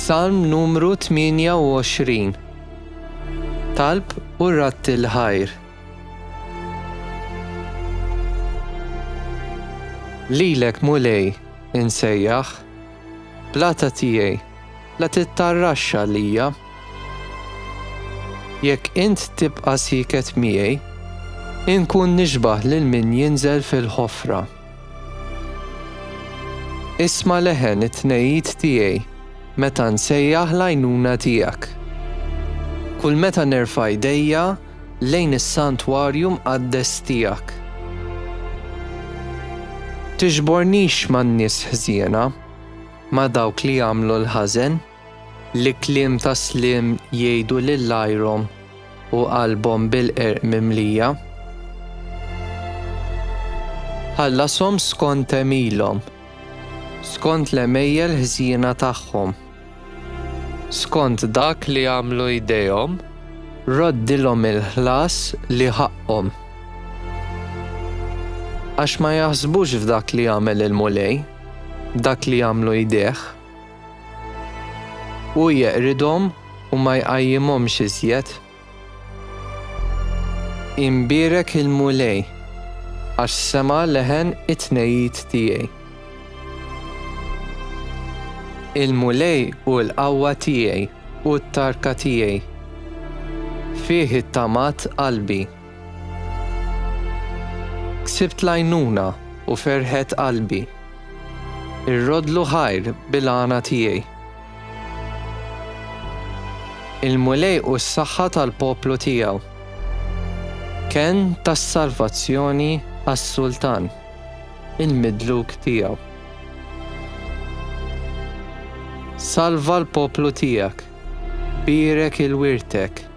Salm numru 28 Talb u ratti l-ħajr Lilek mulej insejjaħ Blata tiegħi la tittarraxxa lija Jekk int tibqa' siket miegħi Inkun nixbaħ lil min jinżel fil-ħofra. Isma' leħen it-tnegħid tiegħi meta nsejjaħ l-għajnuna tiegħek. Kull meta nerfa' jdejja lejn is-santwarju mqaddes tiegħek. Tiġbornix man-nies ħżiena, ma' dawk li jagħmlu l-ħażen. Li kliem ta' sliem jgħidu lil għajrhom u qalbhom bil-qerq mimlija. Ħallashom skont għemilhom, skont l-għemejjel ħżiena tagħhom, skont dak li għamlu jdejhom, roddilhom il-ħlas li ħaqqhom. Għax ma jaħsbux f'dak li għamel il-Mulej, dak li għamlu jdejh. Hu jeqridhom u ma jqajjimhomx iżjed. Imbierek il-Mulej, għax sema' leħen it-tnegħid tiegħi. Il-Mulej hu l-qawwa tiegħi u t-tarka tiegħi, fih ittamat qalbi. Ksibt l-għajnuna u ferħet qalbi. Irroddlu ħajr bil-għana tiegħi. Il-Mulej hu s-saħħa tal-poplu tiegħu. Kenn tas-salvazzjoni għas-sultan, il-midluk tiegħu. Salva l-poplu tiegħek, bierek il-wirtek.